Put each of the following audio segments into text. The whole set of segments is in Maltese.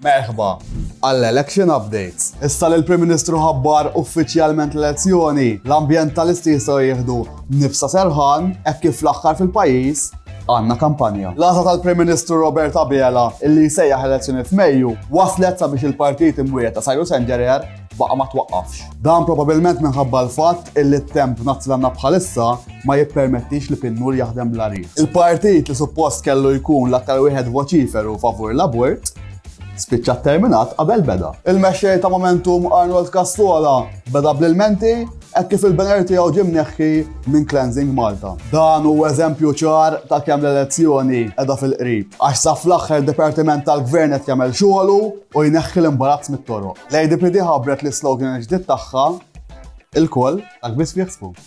Merħba! Għall-election updates. Issa li l-Prim Ministru ħabbar uffiċjalment l-elezzjoni, l-ambjentalisti jistgħu jieħdu nifsa serħan hekk kif fl-aħħar fil-pajjiż għandna kampanja. L-għażla tal-Prim Ministru Robert Abela illi jsejjaħ elezzjoni f'Mejju waslet sabiex il-partit imwiegħed ta' Cyrus Engerer baqa' ma twaqqafx. Dan probabilment minħabba l-fatt illi t-temp b'nazz li għandna bħalissa ma jippermettix li Pinnur jaħdem bla riħ. Il-partit li suppost kellu jkun l-aktar wieħed voċiferu favur l-abort, spiċċa tterminat qabel beda. Il-mexxej ta' Momentum Arnold Cassola beda bl-ilmenti hekk kif il-banner tiegħu ġie mneħħi minn Cleansing Malta. Dan hu eżempju ċar ta' kemm l-elezzjoni qiegħda fil-qrib, għax sa fl-aħħar dipartiment tal-Gvern qed jagħmel xogħlu u jneħħi l-imbarazz mit-toroq. L-ADPD ħabbret l-islogan il-ġdid tagħha, Ilkoll, dak biss fih sbub.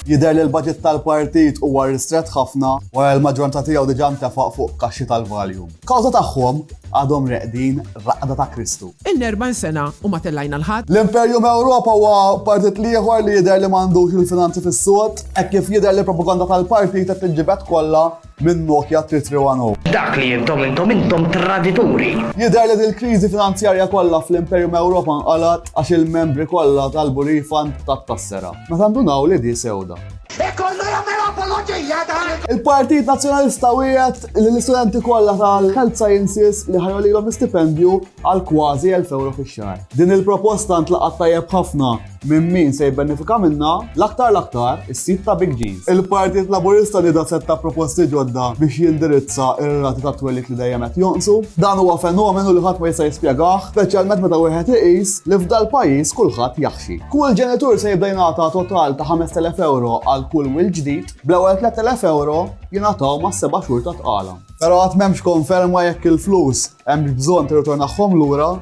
Jidher li l-baġit tal-partit huwa ristrett ħafna wara li l-maġġoranza tiegħu diġà ntefaq fuq kaxxi tal-Valium. Kawża tagħhom għadhom reqdin raqda ta' Kristu. Ilna 40 sena u ma tellajna l-ħadd. L-Imperjum Ewropa huwa partit l-ieħor li jidher li m'għandux il-finanzi fis-sod, hekk kif jidher li l-propaganda tal-partit qed tinġibed kollha Minn Nokia 3310. Dak li intom intom intom tradituri! Jidher li dil-kriżi finanzjarja kollha fl-Imperium Europa nqalgħet għax il-membri kollha talbu refund tat-tassera. Meta ndunaw li di sewda. Hekk kollu jagħmel apoloġija dan il. Il-Partit Nazzjonalista wiegħed li l-istudenti kollha tal-Health Sciences li ħa jgħolilhom l-istipendju għal kważi elf ewro fix-xahar. Din il-proposta ntlaqgħet tajjeb ħafna. Minn min se jibbenefika minnha l-aktar l-aktar? Is-sid ta' Big G's. Il-Partit Laburista nieda setta proposti ġodda biex jindirizza r-rati tat-twelid li dejjem qed jonqsu. Dan huwa fenomenu li ħadd ma jista' jispjegah, speċjalment meta wieħed iqis li f'dal-pajjiż kulħadd jaħxi. Kull ġenitur se jibda jingħata total ta' 5,000 ewro għal kull wild ġdid, bl-ewwel 3,000 ewro jingħataw mas-seba' xhur ta' tqala. Però għad m'hemmx konferma jekk il-flus hemmx bżonn tirritornahom lura.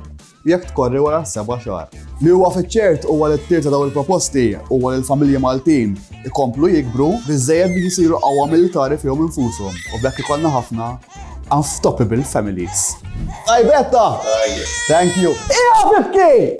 jekk tkorri wara s-seba' xahar. Li huwa fiċ-ċert huwa li t-tir ta' dawn il-proposti huwa li l-familji Maltin ikomplu jikbru biżżejjed biex isiru qawwa militari fihom infushom u b'hekk ikollna ħafna unftoppable families. Tajbetta! Thank you. Qiegħed ibki!